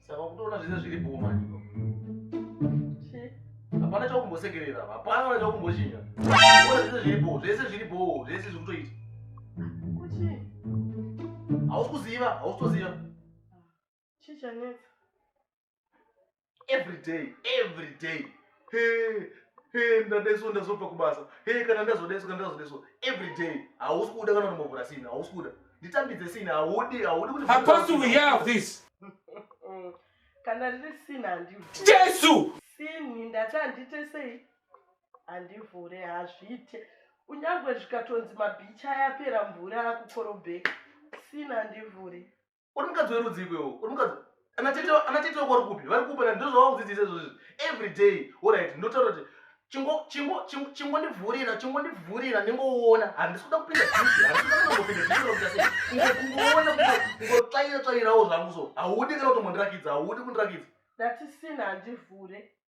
Saka kutoona zvese zviri bhoo manje. Hapana chakumbosekerera, hapana chakumboshinga. Kuona zvese zviri bhoo, zvese zviri bhoo, zvese zviri kutoita. Kuti? Hausi kuziva, hausi kuziva. Chii chanetsa? every day every day hey, hey, ndadaiso ndazobva kubasa hey, kana ndazodaiso kana ndazodaiso every day hausi kuda kana unombovhura sina hausi kuda nditambidze sina haudi haudi kuti hapasi we hear of this kana riri sina handi jesu sini ndati handite sei handivhure hazviite kunyangwe zvikatonzi mabhicha yapera mvura akukorobheka sina handivhure uri mukadzi werudzii kwewo uri mukadzi anatete wako vari kupi vari kupa ndozvavakudzidzisa izvozvi every day orit ndotaura kuti chingondivhurira chingondivhurira ndingoona handisi kuda kupinda kungoona kungotsvaira tsvairawo zvangu so haudi kana kutombondirakidza haudi kundirakidza ndatisina handivhure